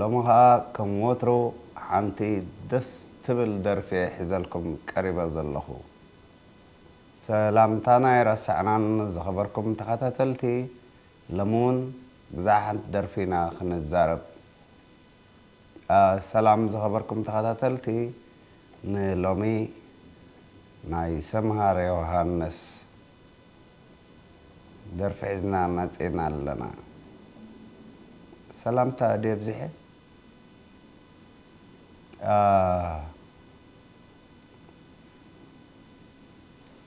ሎሚ ከኣ ከም ወትሩ ሓንቲ ደስ ትብል ደርፊ'የ ሒዘልኩም ቀሪበ ዘለኹ። ሰላምታና ኣይረሳዕናን ዝኸበርኩም ተኸታተልቲ ሎሚ ውን ብዛዕባ ሓንቲ ደርፊ ኢና ክንዛረብ። ሰላም ዝኸበርኩም ተኸታተልቲ ንሎሚ ናይ ሰምሃር ዮውሃንስ። ደርፊ ሒዝና መጺና ኣለና። ሰላምታ ድየ ኣብዚሐ?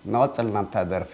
ንቕጽል ናብታ ደርፊ።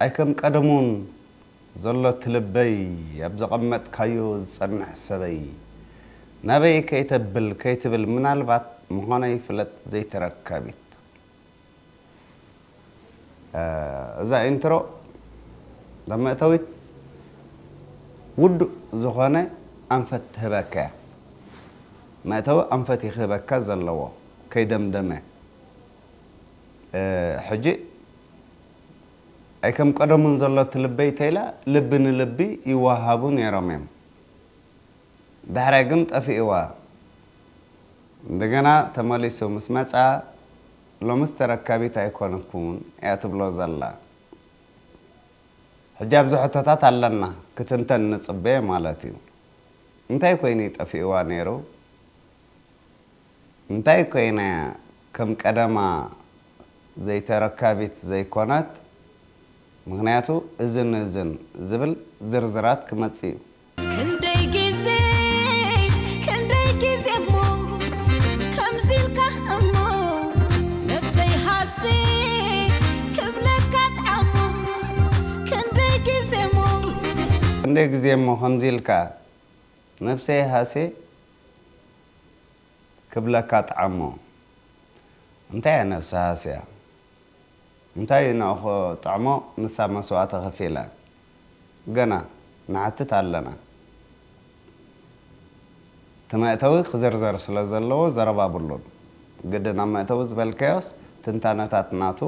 ኣይ ከም ቀደሙን ዘሎ ትልበይ ኣብ ዘቐመጥካዮ ዝጸንሕ ሰበይ ናበይ ከይተብል ከይትብል ምናልባት ምዃነይ ፍለጥ ዘይተረካቢት እዛ ኢንትሮ እዛ መእተዊት ውዱእ ዝኾነ ኣንፈት ትህበካ እያ መእተዊ ኣንፈት እዩ ክህበካ ዘለዎ ከይደምደመ ሕጂ ኣይከምቀደሙን ዘሎ እቲ ልበይ ተይላ ልቢ ንልቢ ይዋሃቡ ነይሮም እዮም ዳሕራይ ግን ጠፊእዋ እንደገና ተመሊሱ ምስ መጽኣ ሎምስ ተረካቢት ኣይኮንኩን እያ ትብሎ ዘላ ሕጂ ኣብዚ ሕቶታት ኣለና ክትንተን ንጽበ ማለት እዩ እንታይ ኮይኑ እዩ ጠፊእዋ ነይሩ እንታይ ኮይና እያ ከም ቀደማ ዘይተረካቢት ዘይኮነት ምኽንያቱ እዝን እዝን ዝብል ዝርዝራት ክመጽእ እዩ። ክንደይ ግዜ ክንደይ ግዜ እሞ ከምዚ ኢልካ እሞ ነብሰይ ሃሰየ ክብለካ ጠዓሞ ክንደይ ግዜ እሞ። ክንደይ ግዜ እሞ ከምዚ ኢልካ ነብሰይ ሃሰየ ክብለካ ጠዓሞ እንታይ እያ ነብሲ ሃስያ እንታይ እዩ ናኡኮ ጠዕሞ ንሳ መስዋእቲ ከፊላ ገና ንሓትት ኣለና እቲ መእተዊ ክዝርዘር ስለ ዘለዎ ዘረባ ብሉን ግድን ኣብ መእተዊ ዝበልካዮስ ትንታነታት ናቱ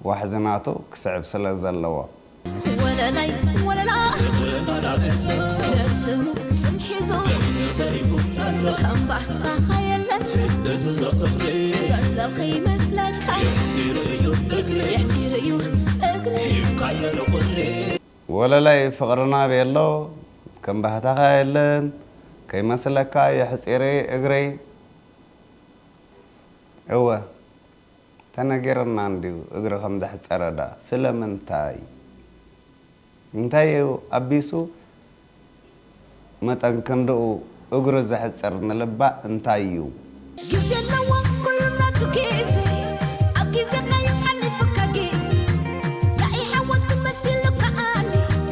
ዋሕዚ ናቱ ክስዕብ ስለ ዘለዎ። ወለላይ ወለላ ደስዝብሉ ስም ሒዙ ከም ባህታኻ የለን ሰንደቕ ይመስለካ የሕጺር'ዩ እግሪ። ወለላይ ፍቕርና ቤሎ ከም ባህታኻ የለን ከይመስለካ የሕጺር'ዩ እግሪ። እወ! ተነጊርና እንድዩ እግሪ ከም ዘሕጸረ ድኣ ስለምንታይ እንታይ እዩ ኣቢሱ መጠን ክንድኡ እግሩ ዘሕጽር ንልባ እንታይ እዩ። ግዜ ኣለዎ ኩሉ ናቱ ግዜ ኣብ ግዜካ'ዩ ሓሊፉካ ግዜ ያኢ ሓወልቲ መሲሉ ከኣኒ።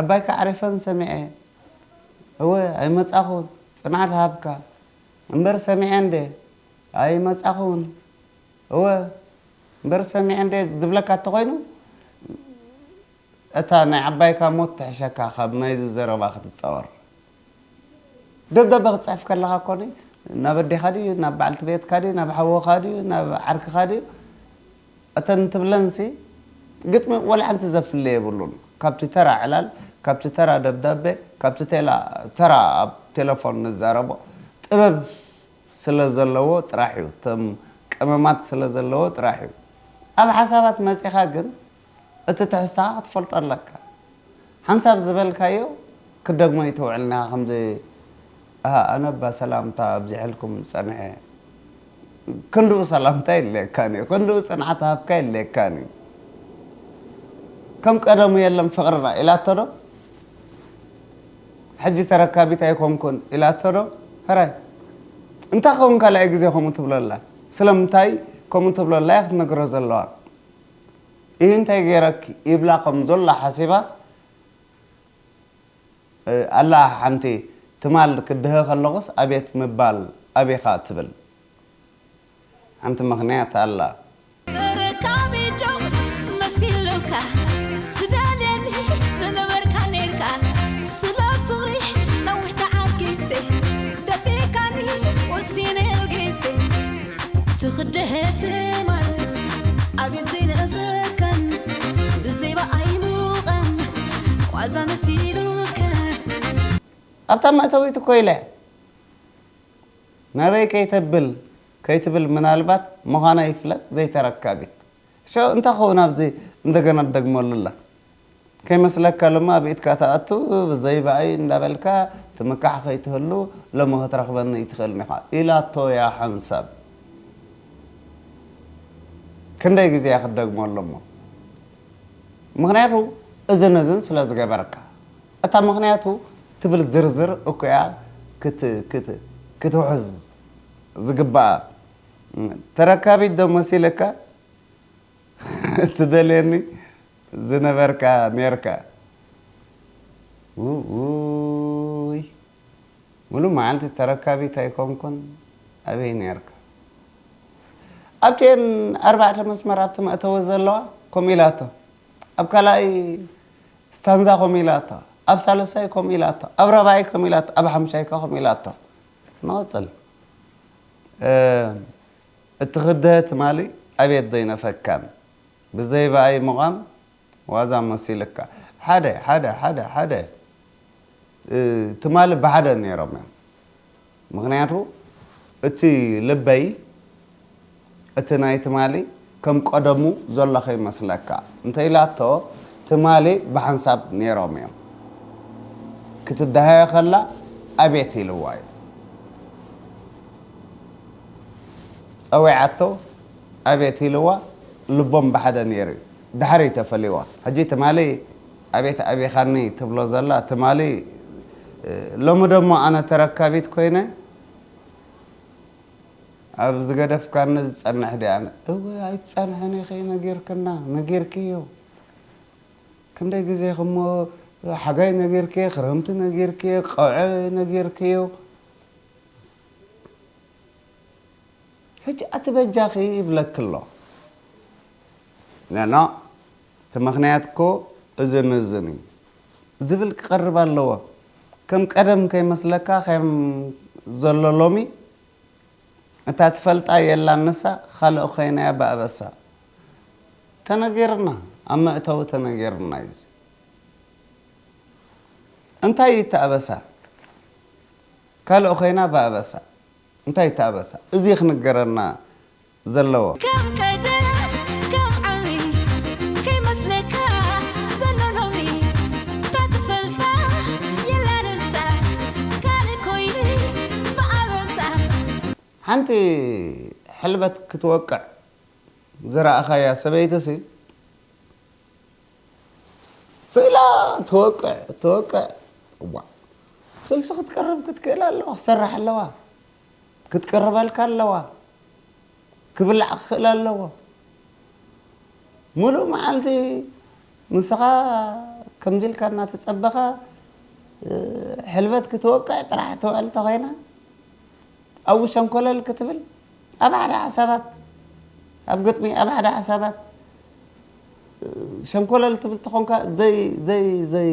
ዓባይካ ዓሪፈን ሰሚዐ እወ ኣይመጻኹን ጽንዓት ሃብካ እምበር ሰሚዐ እንደ ኣይመጻኹን እወ እምበር ሰሚዐ እንደ ዝብለካ እተኾይኑ እታ ናይ ዓባይካ ሞት ትሕሸካ ካብ ናይዚ ዘረባ ክትጻወር። ደብዳበ ክትጽሕፍ ከለኻ እኮ ናብ ኣዴኻ ድዩ ናብ በዓልቲ ቤትካ ድዩ ናብ ሓውኻ ድዩ ናብ ዓርክኻ ድዩ እተን ትብለንሲ ግጥሚ ዋላ ሓንቲ ዘፍሊ የብሉን ካብቲ ተራ ዕላል ካብቲ ተራ ደብዳበ ካብቲ ቴላ ተራ ኣብ ቴለፎን ንዛረቦ ጥበብ ስለ ዘለዎ ጥራሕ እዩ እቶም ቀመማት ስለ ዘለዎ ጥራሕ እዩ ኣብ ሓሳባት መጺኻ ግን እቲ ትሕዝቶኻ ክትፈልጦ ኣለካ ሓንሳብ ዝበልካዮ ክትደግሞ ኣይተውዕልንኻ ከምዚ ኣሃ ኣነ እባ ሰላምታ ኣብዚሐልኩም ጸኒሐ ክንድኡ ሰላምታ የድልየካን እዩ ክንድኡ ጽንዓት ሃብካ የድልየካን እዩ ከም ቀደሙ የለን ፍቅርና ኢላቶ ዶ ሕጂ ተረካቢት ኣይኮንኩን ኢላቶ ዶ ሕራይ እንታይ ክኸውን ካልኣይ ግዜ ከምኡ ትብሎ ኣላ ስለምንታይ ከምኡ ትብሎ ኣላ እያ ክትነግሮ ዘለዋ ኢሂ እንታይ ገይረኪ ይብላ ከም ዞላ ሓሲባስ ኣላ ሓንቲ ትማል ክድሀ ከለኩስ ኣቤት ምባል ኣቢካ ትብል ሓንቲ ምክንያት ኣላ። ተረካቢ ዶ መሲሉካ ትደልየኒ ዝነበርካ ኔርካ ስለ ፍቅሪ ነዊሕ ተዓጊሰ ደፊእካኒ ወሲነ ኣልጊሰ። ኣብታ መእተዊት ኮይለ ናበይ ከይተብል ከይትብል ምናልባት ምዃና ይፍለጥ ዘይተረካቢት ሸው እንታይ ክኸውን ኣብዚ እንደገና ትደግመሉ ኣላ ከይመስለካ ሎሚ ኣብ ኢድካ ትኣቱ ብዘይ ብኣይ እንዳበልካ ትምካሕ ከይትህሉ ሎሚ ክትረኽበኒ ኣይትኽእልን ኢኻ ኢላቶ እያ ሓንሳብ ክንደይ ግዜ እያ ክትደግመሉ እሞ ምኽንያቱ እዝን እዝን ስለ ዝገበርካ እታ ምኽንያቱ ትብል ዝርዝር እኮ እያ ክትውሕዝ ዝግባኣ ተረካቢት ዶ መሲለካ ትደልየኒ ዝነበርካ ኔርካ ውውይ ሙሉእ መዓልቲ ተረካቢት ኣይኮንኩን ኣበይ ኔርካ ኣብቲኤን ኣርባዕተ መስመር ኣብቲ መእተዊ ዘለዋ ከምኡ ኢላቶ ኣብ ካልኣይ ስታንዛ ከምኡ ኢላቶ ኣብ ሳልሳይ ከምኡ ኢላቶ ኣብ ራብዓይ ከምኡ ኢላቶ ኣብ ሓምሻይ ከ ከምኡ ኢላቶ ንቐፅል እትክደሀ ትማሊ ኣቤት ዘይነፈካን ብዘይ በኣይ ምቛም ዋዛ መሲልካ ሓደ ሓደ ሓደ ሓደ ትማሊ ብሓደ ነይሮም እዮም ምክንያቱ እቲ ልበይ እቲ ናይ ትማሊ ከም ቀደሙ ዘሎ ከይመስለካ እንተ ኢላቶ ትማሊ ብሓንሳብ ኔሮም እዮም ክትደሃዮ ከላ ኣቤት ኢልዋ እዩ ጸዊዓቶ ኣቤት ኢልዋ ልቦም ብሓደ ኔሩ እዩ ድሓር እዩ ተፈልይዋ ሕጂ ትማሊ ኣቤት ኣቢኻኒ ትብሎ ዘላ ትማሊ ሎሚ ደሞ ኣነ ተረካቢት ኮይነ ኣብ ዝገደፍካኒ ዝጸንሕ ድየ ኣነ። እወ ኣይትጸንሕን ኢኺ ነጊርክና ነጊርክዮ ክንደይ ግዜ ክሞ ሓጋይ ነጊርክዮ ክረምቲ ነጊርክዮ ቀውዒ ነጊርክዮ ሕጂ ኣቲ በጃኺ ይብለኪ ኣሎ ኖኖእ እቲ ምኽንያት እኮ እዝን እዝን እዩ ዝብል ክቐርብ ኣለዎ ከም ቀደም ከይመስለካ ከም ዘሎ ሎሚ እታ ትፈልጣ የላን ንሳ ኻልእ ኾይናያ ብኣበሳ ተነጊርና ኣብ መእተዊ ተነጊርና እዩ እዚ እንታይ እዩ እቲ ኣበሳ ካልእ ኾይና ብኣበሳ እንታይ እቲ ኣበሳ እዚ ኽንገረና ዘለዎ። ከም ቀደም ከም ዓሚ ከይመስለካ ዘሎ ሎሚ እታ ትፈልጣ የላን እዛ ካልእ ኮይኑ ብኣበሳ። ሓንቲ ሕልበት ክትወቅዕ ዝረኣኻያ ሰበይቲሲ ስኢላ ትወቅዕ ትወቅዕ እዋእ ስልሲ ክትቀርብ ክትክእል ኣለዋ ክትሰርሕ ኣለዋ። ክትቅርበልካ ኣለዋ ክብላዕ ክኽእል ኣለዎ ሙሉእ መዓልቲ ንስኻ ከምዚ ኢልካ እናተፀበኻ ሕልበት ክትወቅዕ ጥራሕ ትውዕል ተኾይና ኣብኡ ሸንኮለል ክትብል ኣብ ሓደ ሓሳባት ኣብ ግጥሚ ኣብ ሓደ ሓሳባት ሸንኮለል ትብል ተኾንካ ዘይ ዘይ ዘይ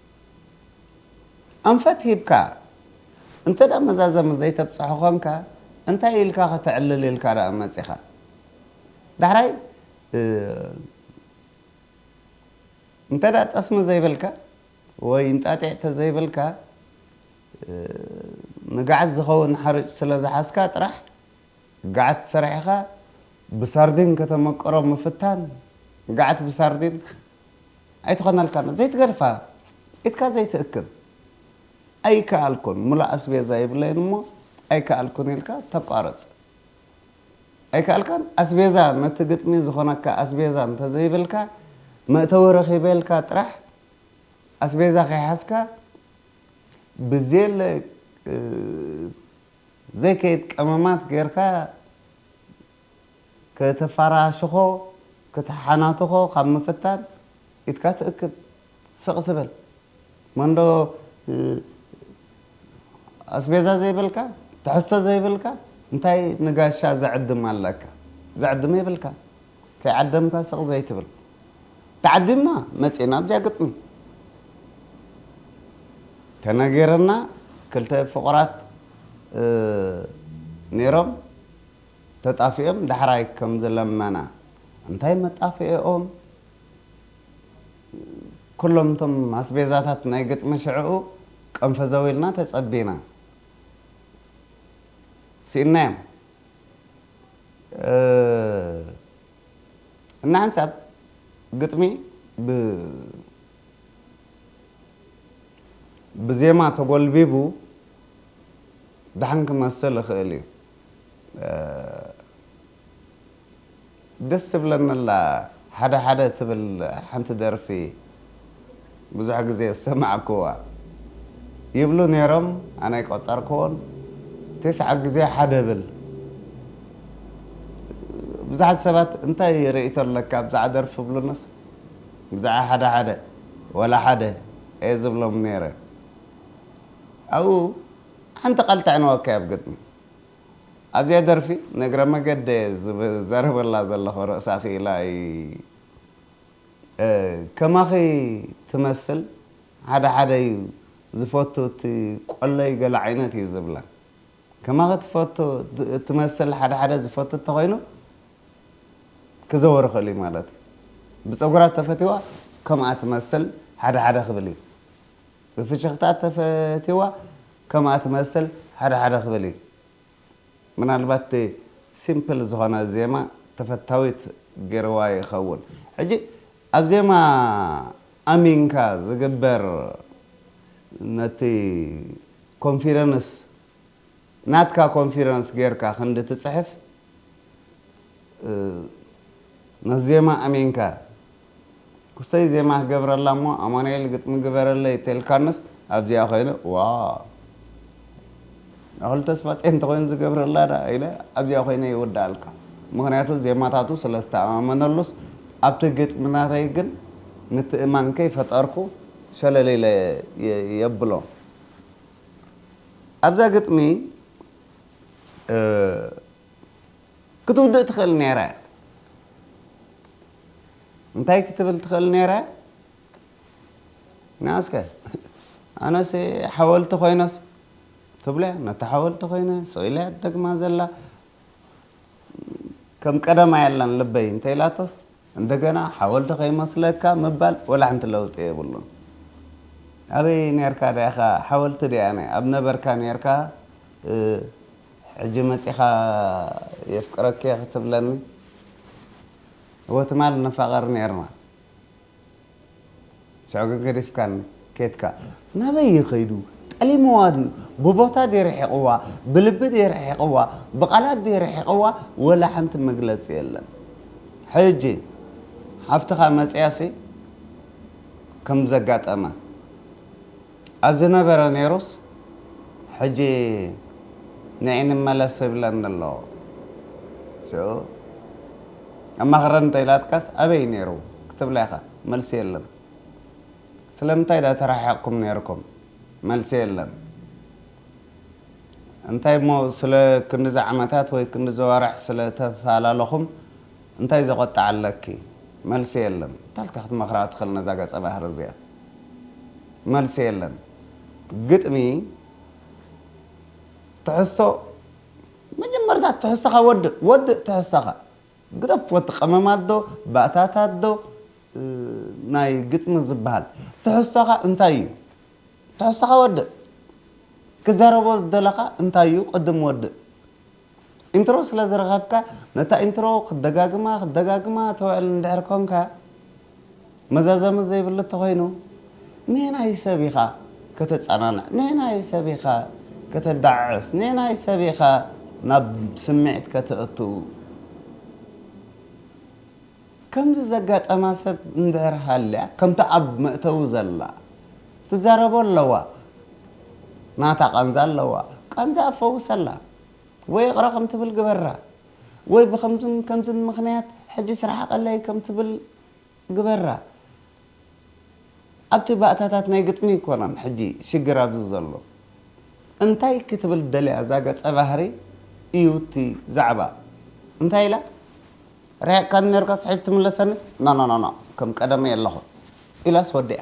ኣንፈት ሂብካ እንተ መዛዘሚ ዘይተብጽሖ ኮንካ እንታይ ኢልካ ከተዕልል ኢልካ ደኣ መጺኻ ዳሕራይ እንተ ጠስሚ ዘይብልካ ወይ እንጣጢዕ ተዘይብልካ ንጋዕዝ ዝኸውን ሓርጭ ስለ ዝሓዝካ ጥራሕ ጋዕት ሰሪሕኻ ብሳርዲን ከተመቅሮ ምፍታን ጋዕት ብሳርዲን ኣይትኾነልካን ዘይትገድፋ ኢድካ ዘይትእክብ ኣይከኣልኩን ምሉእ ኣስቤዛ ይብለይን እሞ ኣይከኣልኩን ኢልካ ተቋርጽ ኣይከኣልካን ኣስቤዛ ነቲ ግጥሚ ዝኾነካ ኣስቤዛ እንተዘይብልካ መእተዊ ረኺበ ኢልካ ጥራሕ ኣስቤዛ ከይሓዝካ ብዘየለ ዘይከይድ ቀመማት ጌርካ ከተፋራሽኾ ክትሓናትኾ ካብ ምፍታን ኢድካ ትእክብ ስቅ ትበል መንዶ ኣስቤዛ ዘይብልካ ትሕዝቶ ዘይብልካ እንታይ ንጋሻ ዘዕድም ኣለካ ዘዕድም የብልካን። ከይዓደምካ ስቕ ዘይትብል። ተዓዲምና መጺእና ብጃ ግጥሚ። ተነጊርና ክልተ ፍቑራት ኔሮም ተጣፊኦም ዳሕራይ ከም ዝለመና። እንታይ መጣፍኤኦም ኩሎም እቶም ኣስቤዛታት ናይ ግጥሚ ሽዕኡ ቀንፈዘው ኢልና ተጸቢና። ስኢንናዮም። እና ሓንሳብ ግጥሚ ብዜማ ተጎልቢቡ ደሓን ክመስል ይኽእል እዩ። ደስ ትብለኒ ኣላ ሓደ ሓደ ትብል ሓንቲ ደርፊ ብዙሕ ግዜ ዝሰማዕክዋ ይብሉ ኔሮም ኣነ ኣይቆጸርክዎን ቴስዓ ግዜ ሓደ እብል ብዙሓት ሰባት እንታይ ርእይቶ ኣለካ ብዛዕባ ደርፊ እብሉንስ ብዛዕባ ሓደ ሓደ ወላ ሓደ እየ ዝብሎም ኔረ ኣብኡ ሓንቲ ቃል ጠዕንወካያ ኣብ ግጥሚ ኣብዚኣ ደርፊ ንእግረ መገደ ዝዘረበላ ዘለኹ ርእሳ ክኢላ እይ ከማኺ ትመስል ሓደ ሓደ እዩ ዝፈቱ እቲ ቆለይ ገለ ዓይነት እዩ ዝብላ ከማኺ ትፈቱ ትመስል ሓደ ሓደ ዝፈቱ እተኾይኑ ክዘወር ይኽእል እዩ ማለት እዩ ብጸጉራ ተፈቲዋ ከምኣ ትመስል ሓደ ሓደ ክብል እዩ ብፍሽኽታ ተፈቲዋ ከምኣ ትመስል ሓደ ሓደ ክብል እዩ ምናልባት እቲ ሲምፕል ዝኾነ ዜማ ተፈታዊት ጌርዋ ይኸውን ሕጂ ኣብ ዜማ ኣሚንካ ዝግበር ነቲ ኮንፊደንስ ናትካ ኮንፊደንስ ጌርካ ክንዲ ትጽሕፍ ነቲ ዜማ ኣሚንካ ክስተይ ዜማ ገብረላ እሞ ኣማኑኤል ግጥሚ ግበረለይ ተልካንስ ኣብዚኣ ኮይነ ዋው ኣክሉ ተስፋጼን እንተኮይኑ ዝገብረላ ዳኣ ኢለ ኣብዚኣ ኮይነ ይውድኣልካ ምክንያቱ ዜማታቱ ስለ ዝተኣማመነሉስ ኣብቲ ግጥሚ ናተይ ግን ምትእማን ከይ ፈጠርኩ ሸለል ኢለ የብሎ ኣብዛ ግጥሚ። ክትውድእ ትኽእል ነይረ። እንታይ ክትብል ትኽእል ነይረ? ናስከ ኣነሲ ሓወልቲ ኮይነስ ትብለ ነታ ሓወልቲ ኮይነ ስኢለ ደግማ ዘላ ከም ቀደማ የለን ልበይ እንተኢላቶስ እንደገና ሓወልቲ ከይመስለካ ምባል ወላሓንቲ ለውጢ የብሉን ኣበይ ኔርካ ዳኢካ ሓወልቲ ዲኣነ ኣብ ነበርካ ኔርካ ሕጂ መጺካ የፍቅረኪየ ክትብለኒ እወ ትማል ንፋቀር ኔርና። ሽዑ ግን ገዲፍካኒ ኬድካ። ናበይ እዩ ከይዱ? ጠሊምዋ ድዩ? ብቦታ ድየ ርሒቕዋ? ብልቢ ድየ ርሒቕዋ? ብቓላት ድየ ርሒቕዋ? ወላ ሓንቲ መግለጺ የለን። ሕጂ ሓፍትኻ መጺኣሲ ከም ዘጋጠማ። ኣብ ዝነበረ ኔሩስ ሕጂ ንዒ ንመለስ ይብለኒ ኣሎ ሽዑ ኣማኽረኒ ተኢላትካስ ኣበይ ኔሩ ክትብላ ኢኻ መልሲ የለን ስለምንታይ ድኣ ተራሓሒቕኩም ኔርኩም መልሲ የለን እንታይ እሞ ስለ ክንድዚ ዓመታት ወይ ክንድዚ ኣዋርሕ ስለ ተፋላለኹም እንታይ ዘቆጥዕ ኣለኪ መልሲ የለን ታልካ ክትመክራ ትክል ነዛ ገጸ ባህሪ እዚኣ መልሲ የለን ግጥሚ ትሕዝቶ መጀመርታ ትሕዝቶካ ወድእ ወድእ ትሕዝቶካ ግደፍ ወዲ ቀመም ኣዶ ባእታት ኣዶ ናይ ግጥሚ ዝብሃል ትሕዝቶካ እንታይ እዩ ትሕዝቶካ ወድእ ክዘረቦ ዝደለካ እንታይ እዩ ቅድም ወድእ ኢንትሮ ስለ ዝረኸብካ ነታ ኢንትሮ ክትደጋግማ ክትደጋግማ ትውዕል እንድሕር ኮንካ መዛዘሚ ዘይብሉ ተኾይኑ ነየናይ ሰብ ኢኻ ከተጸናንዕ ነየናይ ሰብ ኢኻ ከተዳዕዕስ ነየናይ ሰብ ኢኻ ናብ ስምዒት ከተእቱ ከምዚ ዘጋጠማ ሰብ እንድሕር ሃልያ ከምታ ኣብ መእተዊ ዘላ ትዛረቦ ኣለዋ ናታ ቃንዛ ኣለዋ ቃንዛኣ ፈውሰላ ወይ ይቕረ ከም ትብል ግበራ ወይ ብከምዝን ከምዝን ምኽንያት ሕጂስ ርሓቐለይ ከም ትብል ግበራ። ኣብቲ ባእታታት ናይ ግጥሚ ኣይኮነን ሕጂ ሽግር ኣብዚ ዘሎ እንታይ ክትብል ደልያ እዛ ገጸ ባህሪ ኢዩ እቲ ዛዕባ እንታይ ኢላ ሪሃካኒ ነርካስ ሕጂ ትምለሰኒ ኖኖኖኖ ከም ቀደመይ ኣለኹ ኢላስ ወዲኣ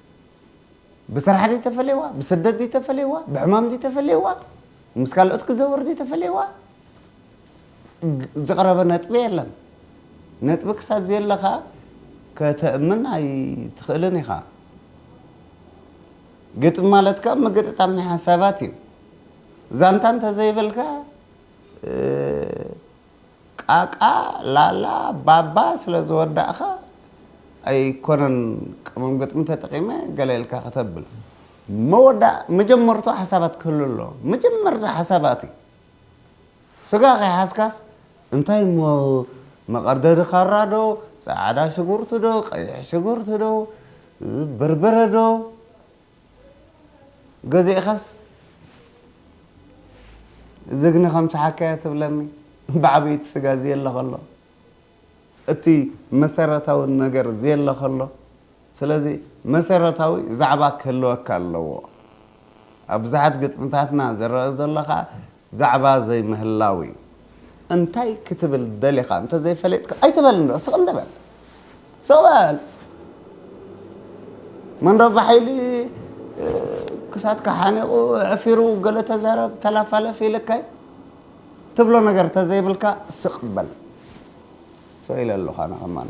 ብስራሕ ድዩ ተፈለይዋ ብስደት ድዩ ተፈለይዋ ብሕማም ድዩ ተፈለይዋ ምስ ካልኦት ክዘውር ድዩ ተፈለይዋ ዝቕረበ ነጥቢ የለን ነጥቢ ክሳብ ዘየለኻ ከተእምን ኣይትኽእልን ኢኻ ግጥሚ ማለት ካብ ምግጥጣም ናይ ሓሳባት እዩ ዛንታ እንተዘይበልካ ቃቃ ላላ ባባ ስለ ዝወዳእካ ኣይኮነን ቀመም ግጥሚ ተጠቂመ ገለ ኢልካ ከተብል መወዳእ መጀመርትኡ ሓሳባት ክህሉ ኣለዎ መጀመርታ ሓሳባት እዩ ስጋ ከይሓዝካስ እንታይ እሞ መቀርደዲ ካራ ዶ ጻዕዳ ሽጉርቲ ዶ ቀይሕ ሽጉርቲ ዶ በርበረ ዶ ገዚእኻስ ዝግኒ ከም ሰሓካዮ ትብለኒ ብዓብይቲ ስጋ ዝየለ ከሎ እቲ መሰረታዊ ነገር ዝየለ ከሎ ስለዚ መሰረታዊ ዛዕባ ክህልወካ ኣለዎ ኣብ ብዙሓት ግጥምታትና ዝረአ ዘሎ ከዓ ዛዕባ ዘይምህላው እዩ እንታይ ክትብል ደሊኻ እንተዘይፈሊጥካ ኣይትበል እንዶ ስቅ እንዶ በል ስቅ በል መንረባ ሓይሊ ክሳትካ ሓኒቁ ዕፊሩ ገለ ተዛረብ ተላፋለፍ ኢልካይ ትብሎ ነገር ተዘይብልካ ስቅ በል ሰው ኢለ ኣለኹ ኣነ ከማን